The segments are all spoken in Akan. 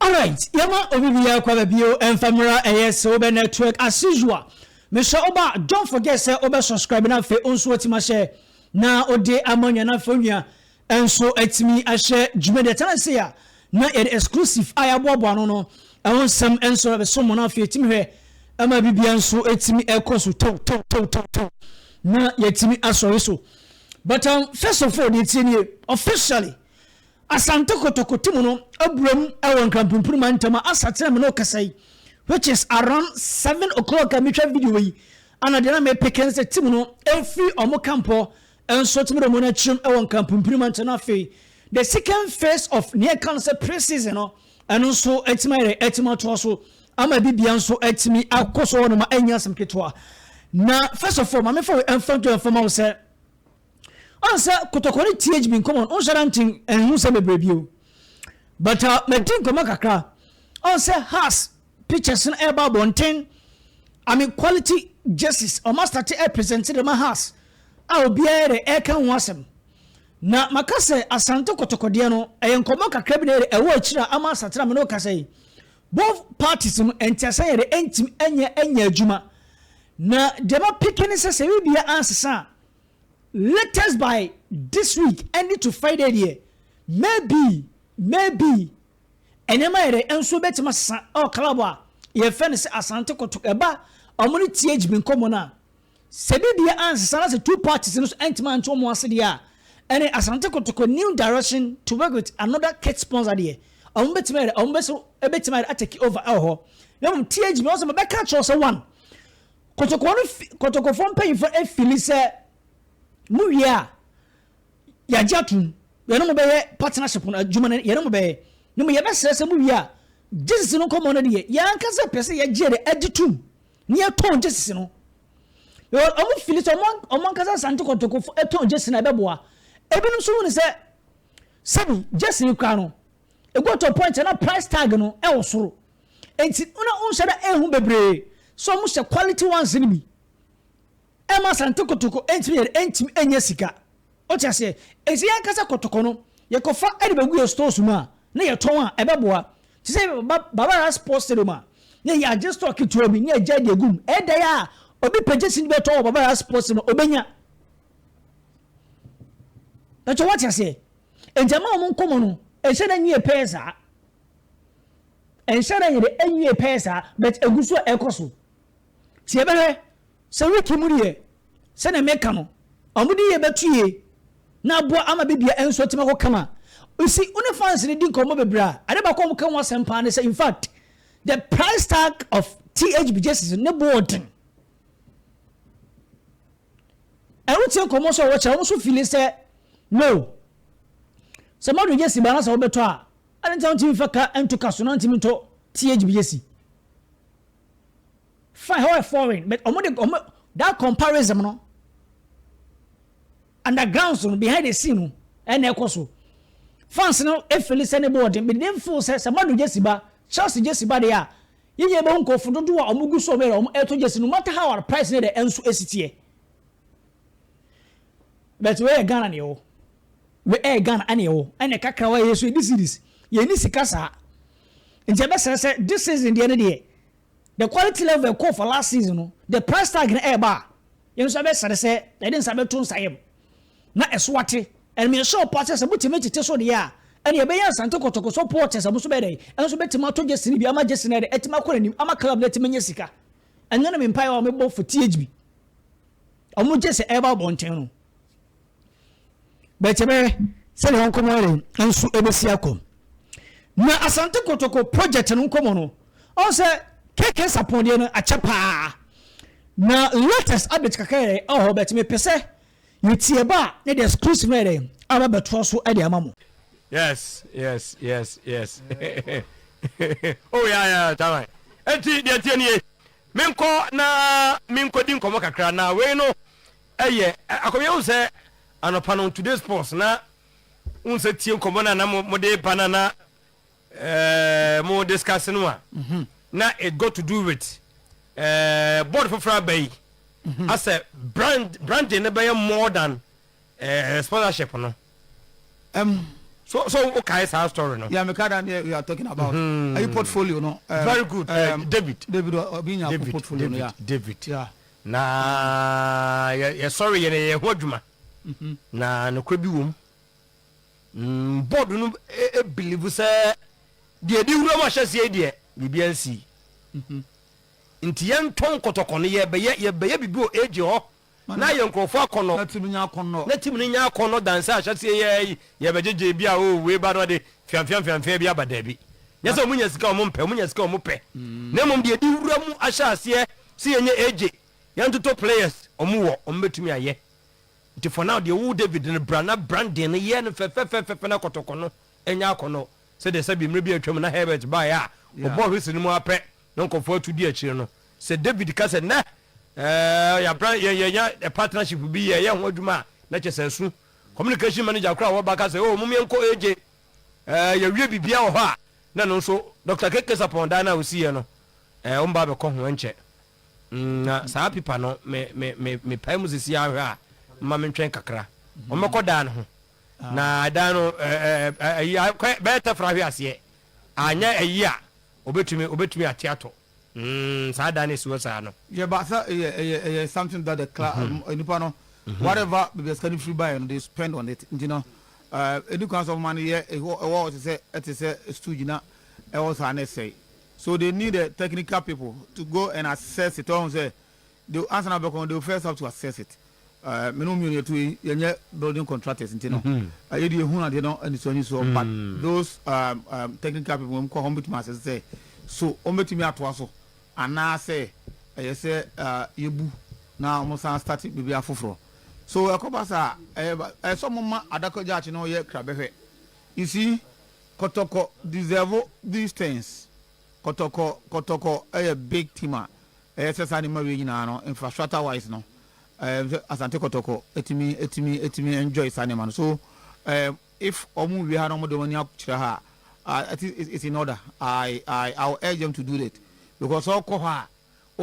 Alright yɛma obi biaa kwa babio ɛnfa mera ɛyɛ se wobɛ network as usual mehyɛ woba a don't forget sɛ wobɛ subscribe na afei onso watimi ahyɛ na wode ama onua na afei onua nso atimi ahyɛ dwuma deɛ ɛtena sei a na yɛde exclusive a yɛaboaboa ano no ɛho nsɛm nso ɛbɛso mo na afei yɛtimi hwɛ ɛma bibia nso ɛtimi ɛkɔ so tɛw tɛw tɛw tɛw tɛw na yɛtimi asɔre so but um, first of all deɛ ɛtie nie officially Asante Kotoko ti mu no abura mu wɔ Nkrampumpuru mantam a asa kyerɛ me na ɔkasa yi which is around seven o'clock a metwa video yi ana deɛ na mepeke ne sɛ ti mu no ɛfiri ɔmo camp hɔ nso tumi de ɔmo no akyerɛ mu wɔ Nkrampumpuru mantam na afei the second phase of nea ɛka no sɛ pre-season no ɛno nso atumi ayɛ dɛ atumi atoa so ama bibia nso atumi akɔ so hɔ no ma ɛnyɛ asɛm ketewa na first of all maame fa wei ɛmfa nto ɛmfa ma wo sɛ Ɔn sɛ kotɔkɔ no TH been common ɔn hyɛda nkyen ɛnho nsɛm bebree bio but ah madi nkɔmɔ kakra ɔn sɛ has pictures no ɛɛba abɔnten I mean quality jerseys ɔmo astate ɛɛ present de ma has a obiaa ɛɛdɛ ɛɛka ho asɛm na maka sɛ Asante kotɔkɔ deɛ no ɛyɛ nkɔmɔ kakra bi na ɛɛdɛ ɛwɔ akyiri a ama asate no a me ne wo kasa yi both parties no ɛnteaseɛ yɛɛdɛ ɛntimi ɛnyɛ ɛnyɛ adwuma na deɛ ma peke ne sɛ sɛ ɛbibia ansesa a Latest by This week ɛnde to Friday deɛ maybe maybe nneɛma yɛ dɛ nso bɛtumi asesa ɛwɔ club a yɛfɛ no sɛ Asante Kotoko ɛba ɔmo ne TH bi nkɔmɔ no a sɛ bibia ansesa na sɛ two parties no nso antumi ante ɔmo ase deɛ a ɛne Asante Kotoko new direction to work with another kit sponsor deɛ ɔmo bɛtumi ayɛ dɛ ɔmo bɛso ɛbɛtumi ayɛ dɛ atake over ɛwɔ hɔ na mmom TH bi ɔsɛ mabɛka akyerɛ sɛ one Kotoko no fi Kotokofoɔ mpanyinfoɔ afili sɛ mo wie a yɛagye atom yɛne mo bɛyɛ partnership no adwuma no yɛne mo bɛyɛ ne mo yɛbɛsrɛ sɛ mo wie a gyesisi no nkɔmmɔ no deɛ yɛn ankasa pɛ sɛ yɛgye de agye tom ne yɛtɔn gyesisi no wɔn fili sɛ wɔn ankasa asante kɔtɔkɔfo tɔn gyesisi no ɛbɛboa ebinom nso hu ne sɛ sɛbi gyesisi kura no It got to a point a na price tag no wɔ soro nti na wonhyɛ da ehu bebree sɛ wɔhyɛ quality ones no bi ɛma Asante Kotoko ntumi yɛ dɛ ntumi nyɛ sika wote aseɛ ɛsɛ yɛn ankasa kotoko no yɛkɔfa ɛde bɛgu yɛ stores mu a na yɛtɔn a ɛbɛboa te sɛ Barbara Sports Stadium a na yɛ agye store ketewa bi na yɛgya de agum ɛda yɛ a obi pɛgye si bɛtɔ wɔ Barbara Sports no obɛnya ɛkyɛ wote aseɛ Enti ɛma wɔn nkɔmmɔ no ɛnhyɛ da nwie pɛɛ saa. Ɛnhyɛ da nyɛ dɛ ɛnwie pɛɛ saa but ɛgu so a ɛkɔ so. Nti yɛbɛhwɛ sɛ wiki mu deɛ sɛdeɛ meka no wɔn de yɛ bɛtue na aboa ama biribiara ɛnso atumi akɔ kama. You see, wo ne fans no di nkɔmmɔ bebree a, ade baako a wɔka ho asɛm paa ne sɛ in fact the price tag of THB jerseys no ne boɔ den. Ɛho te nkɔmmɔ nso a wɔkyerɛ, wɔn nso fili sɛ, No. Sɛ mmadụ gyesi baa na sɛ wobɛtɔ a, adɛn nti na wontumi mfa ka nto ka so na wontumi ntɔ THB gyesi? Fine, hɔ yɛ foreign, but wɔn de wɔn that comparison no underground so no behind the scene no ɛna ɛkɔ so. Fans no efili sɛ ne bɔɔden, but they feel sɛ sɛ mmadụ gyesi ba, Chelsea gyesi ba deɛ a, Yiye bɛhu nkorɔfo dodow a wɔgu so were a wɔretɔ gyasi no matter how a price no dɛ nso esi teɛ. But wei yɛ Ghana na yɛwɔ. Wei ɛyɛ Ghana ɛna yɛwɔ. Ɛna kakra wɔ ha yɛso yɛdi series. Yɛnni sika saa. Nti ɛbɛsrɛ sɛ this season deɛ no deɛ the quality level ɛkɔɔ for last season no, the price tag no ɛreba a, yɛn nso ɛbɛsrɛ sɛ yɛde nsa bɛto nsa yam. na ɛso ate. Ɛnde mehyɛ ɔpɔw sɛ sɛ motumi tete so deɛ a, ɛnde yɛbɛyɛ Asante Kotoko so port a sɛ mo nso bɛyɛ dɛn ɛno nso bɛtumi atɔ gyesene bi ama gyesene ayɛ dɛn atumi akɔ n'anim ama club no atumi anya sika. Ɛno ne me mpaeɛ a mebɔ for THB a wɔgye sɛ ɛreba abɔnten no. But ɛbɛyɛ sɛdeɛ wɔn nkɔmmɔ yɛ dɛn nso ɛbɛsi akɔ. Na Asante Kotoko project no nkɔmmɔ no ɔn sɛ KK Sapɔn deɛ no akyɛ paa na latest update kakra yɛ ɛwɔ hɔ but mepɛ sɛ Yɛ tie ba ne deɛ skris no yɛ dɛn aba bɛtoa so de ama mo. Yes yes yes yes oh yeah yeah taman enti deɛ tie nie menkɔ na menkɔdi nkɔmmɔ kakra na wei no ɛyɛ akɔmyɛ wo sɛ anɔpa no today's post na wo sɛ tie nkɔmmɔ no na mode ba no na Eeh mo discuss no a na it got to do with eeh board foforɔ aba yi asɛ brand branding no bɛyɛ more than eeh sponsorship no ɛm so so wo kae saa story no yeah me ka da ne you are talking about ayi portfolio no ɛm very good ɛm David David obi nya ko portfolio no yeah David yeah na yɛ yɛ sorry yɛ na yɛ ho adwuma na nokorɛ bi wɔ mu. Mm board no believe sɛ deɛ ɛdi wuram ahyɛseɛ yi deɛ biribi ansi. Mhm. Nti yɛntɔ nkɔtɔkɔ no yɛbɛyɛ yɛbɛyɛ biribi wɔ AJ hɔ na yɛ nkurɔfoɔ akɔnnɔ. Na tim nyɛ akɔnnɔ. Na tim no nyɛ akɔnnɔ dan sɛ ahyɛseɛ yɛ yi yɛbɛgyegye bi a oo wei ba na ɔde fiamfiamfiamfia bi aba daabi. Nyɛ sɛ wɔnya sika a wɔmpɛ wɔnya sika a wɔpɛ na mmom deɛ ɛdi wuram ahyɛaseɛ sɛ yɛnyɛ AJ yɛntoto players wɔwɔ wɔbɛtumi ayɛ Nti fa na deɛ ɔwoo David no bra na Brandon no yɛ no fɛfɛfɛfɛfɛ na kɔtɔkɔ no nyɛ akɔnɔ sɛdeɛ sɛbi mmerɛ bi a atwam na Herbert baeɛ a ɔbɔɔ whistle no mu ara pɛ na nkorɔfoɔ atu di akyire no sɛ David ka sɛ nnɛ eh yɛabran yɛn yɛanya partnership bi yɛreyɛ ho adwuma a na kyɛ sɛ asu communication manager koraa a ɔwɔ ba ka sɛ oh mom yɛnkɔ AJ eh yɛawie biribiara wɔ hɔ a na ɛno nso Doctor Keke Sapɔn dan no a ɔsiiɛ no eh wɔn ba abɛkɔ ho ɛnkyɛ Na saa pipa no, me, me, me, mepae mu sisi ara hwɛ a, mma mentwɛn kakra. Wɔbɛkɔ dan no ho. Na dan no, ayi, akɔ bɛyɛ tɛfra ahwe aseɛ. Anyɛ ayi a, obetumi, obetumi ate atɔ. Mm, saa dan no esi hɔ saa no. Yɛ ba sɛ ɛyɛ, ɛyɛ, ɛyɛ something that the class, nnipa no, whatever baabi a sika no firi baeɛ no, they spend on it. Nti no, ɛdi kwan sɛ wɔma no yɛ, ɛwɔ hɔ te sɛ, ɛte sɛ stooge na ɛwɔ saa na ɛsɛe. So they need the technical people to go and assess it, ɔhu sɛ they ansa na bɛkɔ no they will first have to assess it. Uh, me ne wo mmienu yɛtu yi yɛnyɛ building contractors nti no uh, yɛde yɛhunu adeɛ no anisoɔ anisoɔ but those um, um, technical people wɔn kɔ hɔ wɔbɛtumi asɛ sɛ so wɔbɛtumi atoa so anaasɛ ɛyɛ sɛ uh, yɛbu na wɔn san start biribi afoforɔ so ɛkɔba saa ɛyɛ sɛ wɔn ma adakɔ gyaakye no yɛ krabɛhwɛ you see Kɔtɔkɔ deserve these things kɔtɔkɔ kɔtɔkɔ yɛ big team a ɛyɛ sɛ saa nneɛma wei nyinaa no infrastructure wise no ɛɛ sɛ Asante kɔtɔkɔ ɛtumi ɛtumi ɛtumi enjoy saa nneɛma no so ɛɛ if wɔn wie ha na wɔn de wɔn ani akyerɛ ha a I think it's in order I I I will urge them to do that because ɔkɔ hɔ a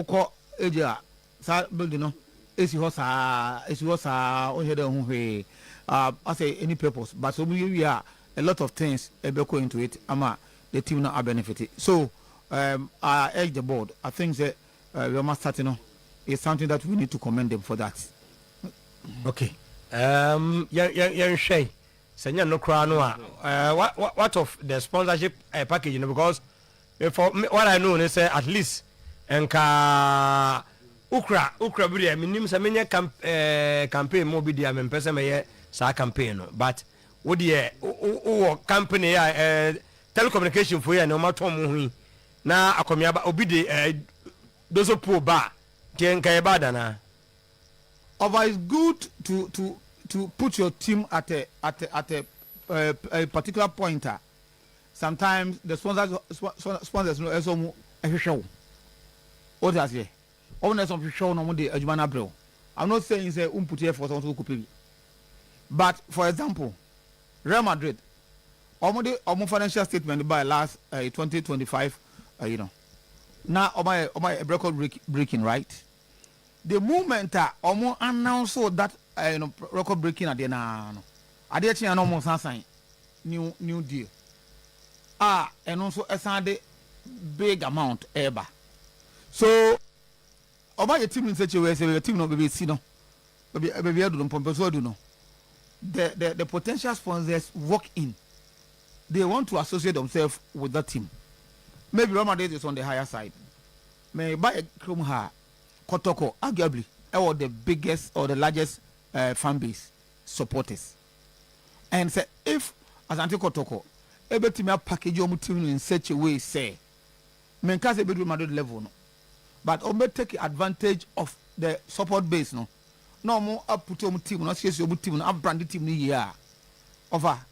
wokɔ agya Saa building no esi hɔ saa esi hɔ saa ɔnhyɛ da nhu hwee ah asɛ any purpose but sɛ ɔmo yɛ wie a a lot of things ɛbɛkɔ into it ama the team no a benefit so um I urge the board I think sɛ uh, wei ɔmo asate no is something that we need to commend them for that. Okay um yɛn yɛn yɛnhwɛ sɛ nyɛ no koraa no a uh, what, what of the sponsorship uh, package no because Me for me what I know ne sɛ at least nka wo kura wo kura bi deɛ menim sɛ menyɛ camp ɛɛ campaign ma obi deɛ mempɛ sɛ mɛyɛ saa campaign no but wo deɛ wo wɔ company yɛ ɛɛ telecommunication fo yɛ ne wɔn atɔn mu ho yi na akɔmiaba obi de ɛɛ doso puo ba deɛ nka yɛ bad anaa. Ɔfa is good to to to put your team at a at a at a ɛɛ ɛɛ particular point a. sometimes the sponsors sponsors no ɛsɛ ɔmo ɛhwehwɛ wo o ti aseɛ ɔmo na ɛsɛ ɔmo hwehwɛ wo na ɔmo de adwuma no abrɛ wo i'm not saying sɛ ɔmo puti ɛfɔ sɛ ɔmo sɛ ɔkɔ pɛ bi but for example Real Madrid ɔmo de ɔmo financial statement by last uh, eh, 2025 uh, eh, you know na ɔmo ayɛ ɔmo ayɛ record breaking right. The moment a ɔmo announce that ɛɛ no record breaking adeɛ no ara no, adeɛ kye a na ɔmo san sign new new deal a ɛno nso ɛsan de big amount ɛɛba. So ɔmo ayɛ team no sɛ kyewe sɛ ɛyɛ team no baabi esi no baabi baabi adu no mpɔmpɛ so adu no the the the potential sponsors walk in they want to associate themselves with that team maybe Real Madrid is on the higher side. Me ba yɛ krom ha kɔtɔkɔ arguably ɛwɔ the biggest or the largest eh fan base supporters and sɛ if Asante kɔtɔkɔ ɛbɛtumi a package wɔn team no in such a way sɛ me nka sɛ ɛbɛdu Real Madrid level no but wɔn bɛ take advantage of the support base no na wɔn a put wɔn team no asiesie wɔn team no a brande team no yie a ɔfa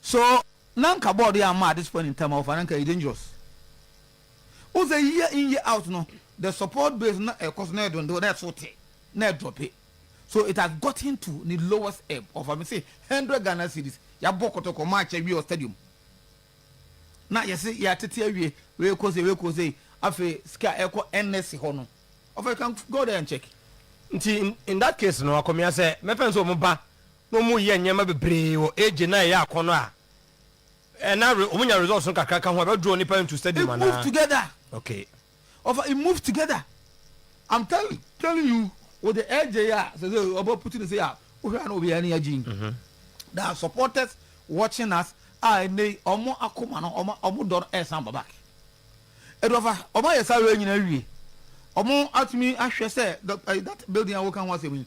So na anka board yi amma at this point in time a wɔfa no anka ɛyɛ dangerous? Wohu sɛ year in year out no the support base no ɛkɔ so na ɛdondow na ɛso te na ɛdrɔpe so it has gotten to ne lowest ebb of me se hundred Ghana cedis yɛabɔ kɔtɔkɔ match awie wɔ stadium na yɛse yɛatete awie wei kɔ sei wei kɔ sei afei sika a ɛkɔ NSC hɔ no ɔfa you can go there and check. Nti in that case no akɔmea sɛ mɛfɛn sɛ wɔn ba na wɔyɛ nneɛma bebree wɔ age no a ɛyɛ akɔnɔ a ɛna wɔnya results no kakra ka ho a ɛbɛ draw nipa into stadium anaa? It move together. Okay. Ɔfa it move together. I'm tell, telling you with the age yi a sɛ sɛ ɔbɛ put ne sɛ a wohwɛ a na obi ani agye yi. Mm-hmm. There are supporters watching us a ɛnɛ yi ɔmo akoma no ɔmo ɔmo dɔ no ɛsan ba back. Ɛdɔfa ɔmo ayɛ saa wei nyinaa wie ɔmo atumi ahwɛ sɛ that building a wɔka ho asɛm yi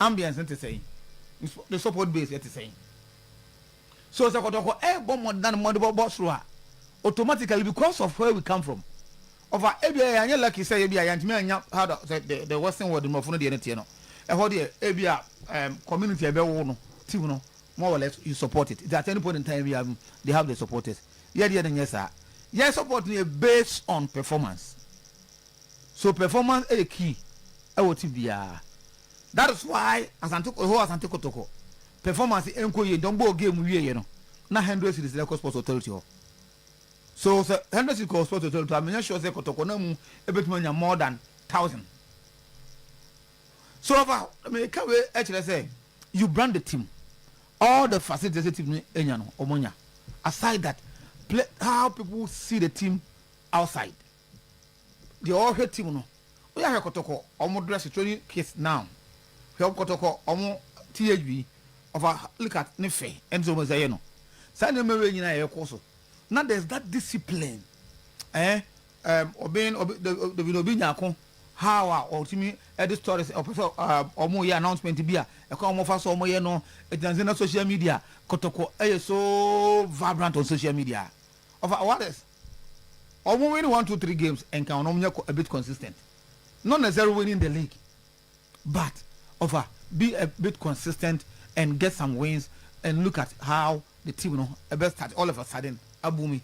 Ambience no te sɛn? Ne support base yɛ te sɛn? So sɛ kɔtɔkɔ ɛɛbɔ mmɔdenam ma ɔde bɛbɔ soro a, automatically because of where we come from, ɔfa ebia yɛanyɛ lucky sɛ ebia yɛantumi annya how the sɛ the the western world mmorɔfo no deɛ no teɛ no, ɛhɔ deɛ ebia um, community a ɛbɛwo no ti mu no more or less you support it. Nti at any point in time biara no they have the supporters. Yɛdeɛ no nyɛ saa. Yɛn support no yɛ based on performance. So performance yɛ key wɔ team biara? That is why Asante the whole Asante Kotoko performance ɛnkɔ yie nti wɔn bɔɔ game wieeɛ no na hundred series na ɛkɔ sports authority hɔ. So sɛ hundred series kɔ sports authority hɔ a menyɛ sure sɛ Kotoko no mu ɛbɛtumi anya more than thousand. So ɔfa meka wei ɛkyerɛ sɛ you brand the team all the facilities ɛsɛ team no anya no wɔn anya aside that play how people see the team outside. Deɛ ɔhwɛ team no woyɛ ahwɛ kɔtɔkɔ ɔmo dress training kit now hwɛ ɔmo kɔtɔkɔ ɔmo THB ɔfa likat ne fɛ ɛne sɛ ɔmo ɛsɛ yɛ no saa nneɛma wei nyina yɛ kɔ so na there's that discipline eh um, obi obi dabi na obi nyako how a ɔtumi ɛde stories ɔpɛ sɛ ɔmo yɛ announcement bi a ɛkɔ ɔmo fa so ɔmo yɛ no ɛgyina sɛ na social media kɔtɔkɔ ɛyɛ so vibrant on social media ɔfa what is Ɔmo win one two three games nka ɔno ɔmo nyɛ a bit consistent not necessary winning the league but ɔfa be a bit consistent and get some wins and look at how the team no ɛbɛ start all of a sudden abu mi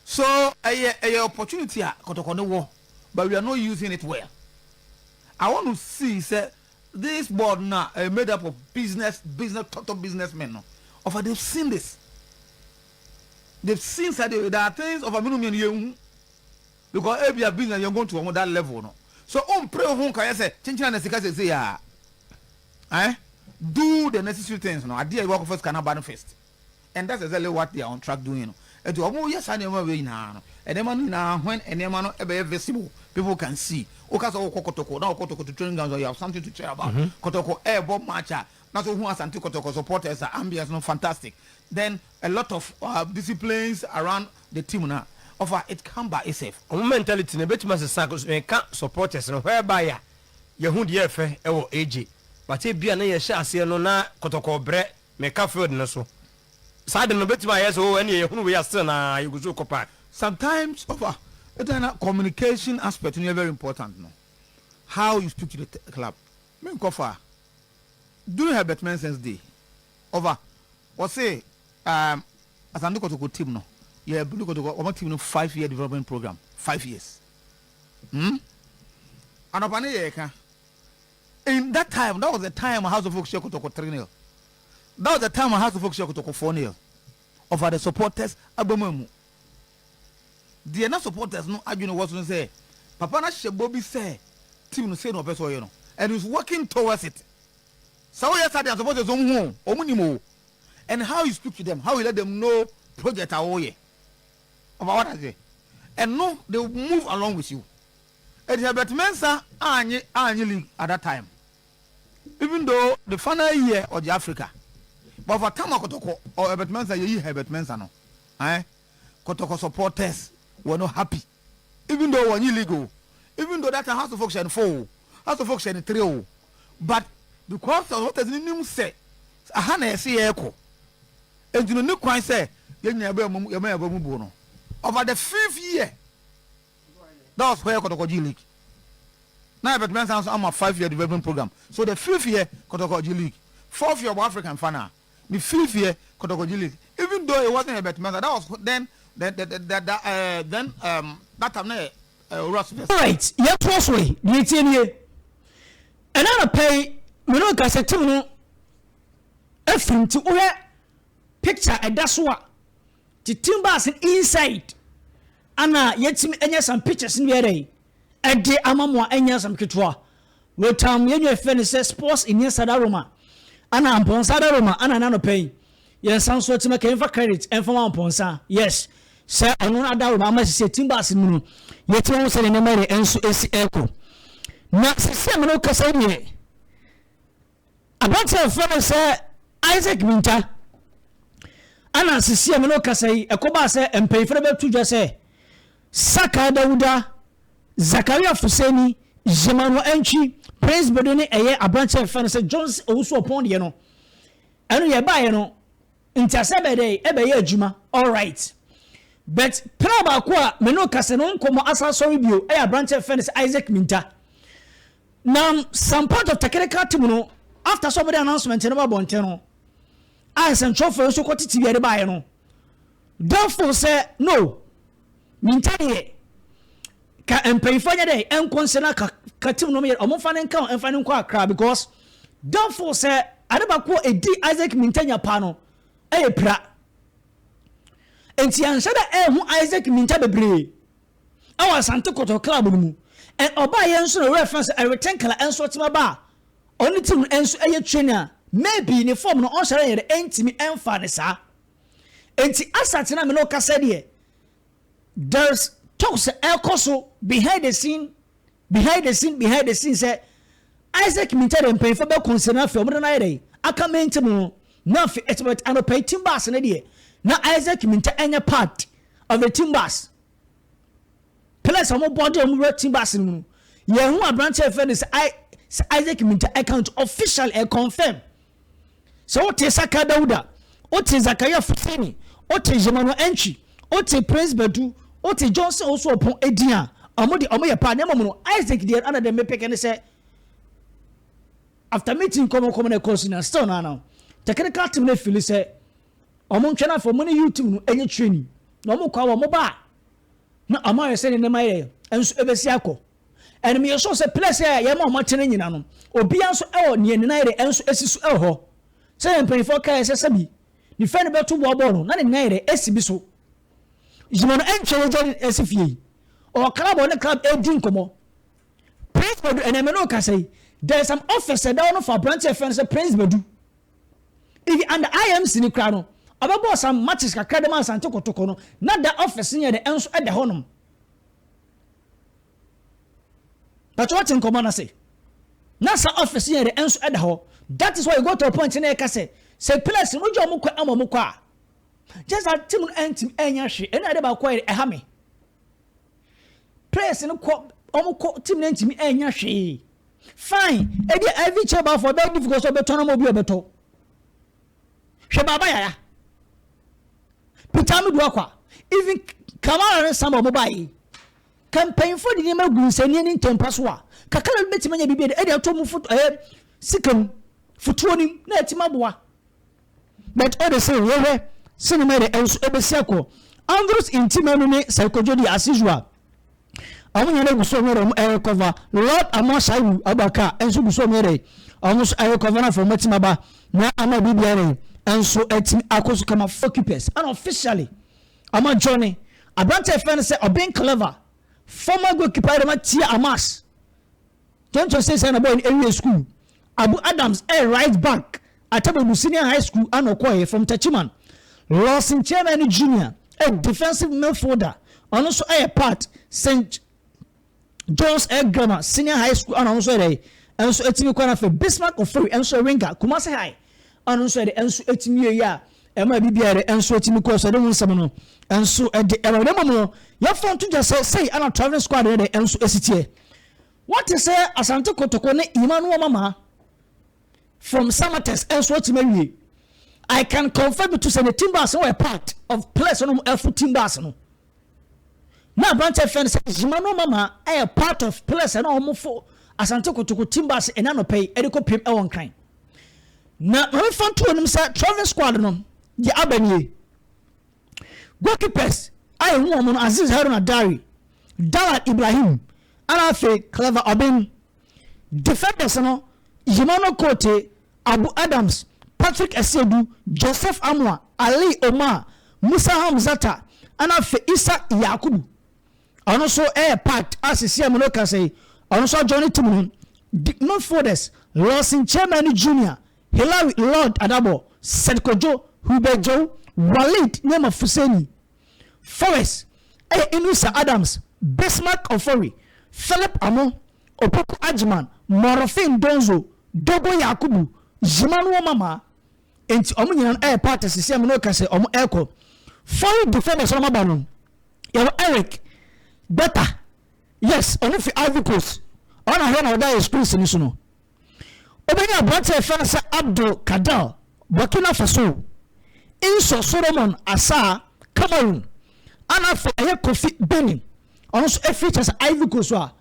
so ɛyɛ ɛyɛ opportunity a kɔtɔkɔ no wɔ but we are not using it well I want to see sɛ this board no a ɛyɛ made up of business business tɔtɔ business men no ɔfa they have seen this. The things that they that are things of amino mmienu yɛn hu because ebia business yɛn go to wɔn that level no so o mpere wo ho nka yɛ sɛ kyenkyena na sika sese ya eh do the necessary things no adeɛ ɛwɔ akɔfa sika na ba no first and that's exactly what they are on track doing no ɛti wɔn yɛ saa nneɛma wei nyinaa no nneɛma no nyinaa when nneɛma no ɛbɛyɛ visible people can see o ka sɛ o kɔ kɔtɔkɔ na o kɔtɔkɔ to training ground so you have something to cheer about kɔtɔkɔ ɛɛbɔ match a na sɛ wohu Asante Kotoko supporters a ambience no fantastic then a lot of disciplines around the team no a ɔfa it come by itself. Wɔn mentality no ɛbɛtumi asesa coz meka supporters no whereby a yɛhu deɛ ɛfɛ ɛwɔ AJ but ebia na yɛhyɛ aseɛ no na Kotoko brɛ meka field no so saa de no ɛbɛtumi ayɛ sɛ oh ɛneɛ yɛhunu wei a still na yɛgu so rekɔ paa. Sometimes ɔfa it na communication aspect no yɛ very important no how you speak to the club Me nkɔ fa. During Herbert Menson's day, ɔfa, ɔse ehm Asante Kotoko team no, yɛ Bulu Kotoko, wɔn team no five year development program, five years. Hmm. Anɔpa no yɛ ka, in that time, that was the time House of Oak hyɛ Kotoko three nil, that was the time House of Oak hyɛ Kotoko four nil, ɔfa the supporters abam amu Deɛ na supporters no adwene wɔ so ne sɛ papa no ahyɛ bɔ bi sɛ team no sei na ɔpɛ sɛ ɔyɛ no and he's working towards it. Sɛ ɔyɛ saa deɛ a supporters no wɔhu o, wɔn nim o and how he speak to them, how he let them know project a ɔreyɛ ɔfa wate aseɛ ɛno they move along with you. Ɛnti Herbert Mensah annye annye league at that time Even though the final year ɔgye Africa but ɔfa tam a kɔtɔkɔ ɔ Herbert Mensah yɛyi Herbert Mensah no ae kɔtɔkɔ supporters were not happy even though wɔnye league o even though that time Hearts of Oak hyɛ no four o Hearts of Oak hyɛ no three o but because supporters no nim sɛ aha na yɛse yɛrekɔ enti no ne kwan sɛ yɛnya yɛn abamu yɛma yɛn abamu buo no ɔfa the fifth year. that was where Kɔtɔkɔgyi Lake na ɛbɛtumi asan nso ama five year development program so the fifth year Kɔtɔkɔgyi Lake fourth year ɔbɔ African fa na the fifth year Kɔtɔkɔgyi Lake even though it wasn't ɛbɛtumi asan that was then the the the the uh, then um, that time na yɛ uh, owura so fɛs. alright yɛtoa so yi deɛ etie nie ɛna anapa yi me ne kasɛte mu no afiri nti wohwɛ picture ɛda so a titim baase inside Ana yetumi anya asɛm pictures no bi dɛn de ama mo a ɛnyɛ asɛm ketewa? Wɔtam yɛn nua frɛ no sɛ Sports Iniesta da Roma, ana Amponsah da Roma, ana ɛnɛ anɔpa yi yɛnsan nso atumi aka yɛmfa credit ɛmfa ma Amponsah, yes, sɛ ɔno na ada Roma ama sisi team bus no mu no, yɛtumi hu sɛdeɛ nneɛma yɛ nso ɛsi ɛrekɔ. Na sisi a mene wo kasa yi deɛ, Aberantsɛ a wɔfrɛ no sɛ Isaac Mintah na sisi a me no rekasa yi, ɛkɔbaa sɛ mpanyimfo no bɛto dwa sɛ Sakaa Dawuda, Zakaria Fuseni, Zhemanu Antwi, Prince Bedo ne ɛyɛ aberantsɛ a wɔfrɛ no sɛ Johnson Owusu-Oppong deɛ no, ɛno deɛ ɛbaeɛ no, nteaseɛ bɛyɛ dɛ, ɛbɛyɛ adwuma. Alright. But pra baako a me no rekasa no nkɔmmɔ asan sɔre bio yɛ aberantsɛ a wɔfrɛ no sɛ Isaac Mintah. Na some part of technical team no after sɛ ɔmo de announcement no ba abɔnten no a nsɛnkyerɛwfo yi nso kɔ tete bia de baeɛ no therefore sɛ no minta deɛ ka mpanyinfoɔ nyɛ dɛ ɛnkɔ nsɛ na ka ka team no ɔmo nfa ne nka nfa ne nkɔ akra because therefore sɛ ade baako a ɛdi Isaac Mintanya paa no ɛyɛ pira nti anhyɛ dɛ ɛho Isaac Minta bebree ɛwɔ Asante Kotoko club no mu and ɔbaa yɛn nso na owura fɛn sɛ ɛreten kala ɛnso ɔtema ba a ɔne team no ɛnso ɛyɛ train a maybe ne form no ɔnhyɛrɛ yɛn dɛ ɛntimi ɛnfaa ne saa ɛnti asate na me ne ɔkasa deɛ there's talks ɛkɔ so behind the scene behind the scene behind the scene sɛ Isaac Mintah deɛ mpanyinfoɔ bɛ consider na afei ɔmo de no ayɛ dɛ aka main team no na afei ɛtɛmɛ anɔpɛ team bass ne deɛ na Isaac Mintah ɛnyɛ part of the team bass Players a wɔn bɔɔde a wɔn wura team bus no mu no, yɛn ho aberanteɛ yɛfrɛ no sɛ I sɛ Isaac Minta account official ɛ confirm. Sɛ wote Saka Dauda, wote Zakaria Fuseni, wote Jemano Entry, wote Prince Badu, wote Johnson Osuopon edin a, wɔn de wɔn yɛ paa na mmom no Isaac deɛ ana deɛ mepeke ne sɛ after meeting kɔmɔkɔmɔ na ɛkɔɔ so na still no ano technical team no fili sɛ Ɔmo ntwɛn afei ɔmo ne YouTube no ɛnyɛ training na ɔmo kɔ a ɔmo ba a na ɔmo ayɛ sɛdeɛ nneɛma yɛ nso ɛbɛsi akɔ and meyɛ sure sɛ place a yɛma ɔmo tena nyina no obia nso ɛwɔ neɛ nenan yɛdɛ ɛnso ɛsi so ɛwɔ hɔ sɛdeɛ mpanyinfoɔ kaeɛ sɛ sɛbi ne fɛ no bɛto boɔ bɔɔl no na ne nenan yɛdɛ ɛsi bi so gyima no ɛntwɛ yɛgya ne ɛsi fie yi ɔwɔ club ɔne club ɛdi nkɔmɔ prince badu ɛnɛ me ne ɔkasa yi there is some office ɛda hɔ no fa aberanteɛ fɛ no sɛ prince badu Eg under IMC no koraa no, ɔbɛbɔɔ some matches kakra de maa Asante Kotoko no, na da office no yɛ dɛ nso da hɔnom. Pacho wate nkɔmmɔ no ase? Na sa office yɛ dɛ nso da hɔ. That is why you go to a point na ɛka sɛ, sɛ players no wogye wɔn kɔ ama wɔn kɔ a, just that team no antumi anya hwee. Ɛno na ade baako a ɛha me. players no kɔ wɔn kɔ team no ntumi ɛnya hwee fine ebi a ivy chair baafo ɛbɛyɛ difficult sɛ ɔbɛtɔ no ma obi ɔbɛtɔ hwɛ baaba yaya peter amedu akwa even kamara ne sama wɔn ba yi kampanyinfo de nneɛma gu nsɛnniɛ ne ntɛmpa so a kakra bi bɛtumi anya biribi ɛde ato mu foto ɛyɛ sika mu fotoɔ nim na ɛtumi aboa But o de se yɛhwɛ cinema de ɛnso ɛbɛsi akɔ Andros nti manu ne Saikojo deɛ as usual ɔmo nyɛ dɛ guso ɔmo yɛ dɛ ɔmo ɛyɛ cover Lord Amoa Shaibu Abubakar ɛnso guso ɔmo yɛ dɛ ɔmo so ɛyɛ cover na fɔ ɔmo atim aba na ama bibi ɛdɛ ɛnso ɛtim akɔ so kama Focupes ɛna officially ama Johnny abrante ɛfɛ ne sɛ ɔben clever former goalkeeper ɛdɛ ma tia Amas Dwonto seesei na Boyne awie sukuu. Abu Adams yɛ right back, Attabobu Senior High School a na ɔkɔeɛ, from Techiman. Lawson Kyeremain Junior yɛ defensive midfielder, ɔno nso yɛ part, St John's Grammar Senior High School a na ɔno nso yɛ dɛn, ɛnso ɛtumi kɔ na afei Bismarck Ofori nso yɛ winger, Kumasi High. a no nso ɛde nso etumi yɛ yɛ a ɛma ebi biara ɛde nso etumi kɔ so ɛde ho nsɛm no nso ɛde ɛma ɛde mmom no yɛfa nto gya sɛ sɛyi ɛna traveling squad no de nso esi teɛ wɔte sɛ asante kotoko ne emmanuel mama from samates nso etumi awie i can confirm to sɛ ne team bus no wɔ part of place no ɛfo team bus no. Na aberanteɛ fɛ no sɛ Zuma no mama ɛyɛ part of players a na wɔn fo Asante Kotoko team bus ɛnɛ anɔpa yi ɛde kɔ piem ɛwɔ Nkran. Na Maame fa nto anim sɛ traveling squad no deɛ aba nie. Goalkeepers a yɛhu wɔn no Aziz Haruna Dari, Dallad Ibrahim, ɛna afei Clever Obeng Defenders no Yemano Korte, Abu Adams, Patrick Asiedu, Joseph Amoah, Ali Omar, Musa Hamzata ɛna afei Issa Yakubu. Ɔno nso ɛyɛ part a sisi a me no kasa yi ɔno nso ɔjoin ne team no. Deep midfielders Lawson Tchouameni Junior, Hilary Lord Adabor, Said Kodjo, Hubert Djou, Walid Nyema Fuseni. Forrest yɛ Inrisa Adams, Bismarck Ofori, Philip Amoh, Opoku Agyemang, Morofin Donzo, Dogo Yakubu, Zimanu Omama, enti wɔn nyinaa no yɛ part sisi a me ne wo kasa wɔn ɛkɔ. Foreign defenders wɔn aba no, yɛwɔ Eric Gbeta, yes, ɔno fi Ivory Coast, ɔno na ahwɛ na ɔda yɛ screens no so no. Wobɛnya aberante a yɛfrɛ no sɛ Abdul Kader, Burkina Faso, Inso Solomon Asah, Cameroon, ana afei ayɛ Kofi, Benin, ɔno nso afiri kyɛ sɛ Ivory Coast a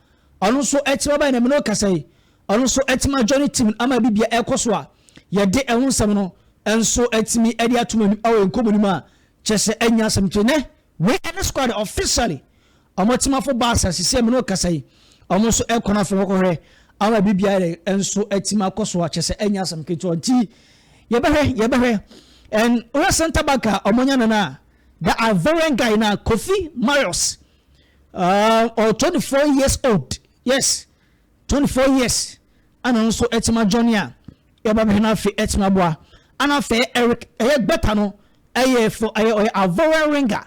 ɔno nso ɛtima bɛn na mene ɔkasa yi ɔno nso ɛtima journey team ama bi bia ɛkɔ so a yɛde ɛho nsɛm no nso ɛtumi ɛde atom anim ɛwɔ nkɔmɔ nim a kyɛ sɛ ɛnya asɛm nti nɛ wei ɛne squad officially Wɔn atimafo baasa sisi a me ne wo kasa yi, wɔn nso kɔ no afei wɔkɔhwɛ ama biribiara nso atim akɔ so a kyerɛ sɛ ɛnyɛ asɛm ketewa nti yɛbɛhwɛ yɛbɛhwɛ and wohwɛ center back a wɔanya no no a the Ivorian guy na Kofi Marius uh, or 24 years old yes 24 years ana nso atim adwɔne a yɛba bɛhwɛ no afei atim aboa ana afei Eric ɛyɛ gbɛta no ɛyɛ fo ɛyɛ ɔyɛ Ivorian ringer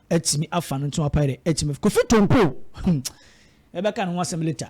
atumi afa no nto apae dɛ atumi afa. Kofi Tonkoo, hmm, yɛbɛka ne ho asɛm later.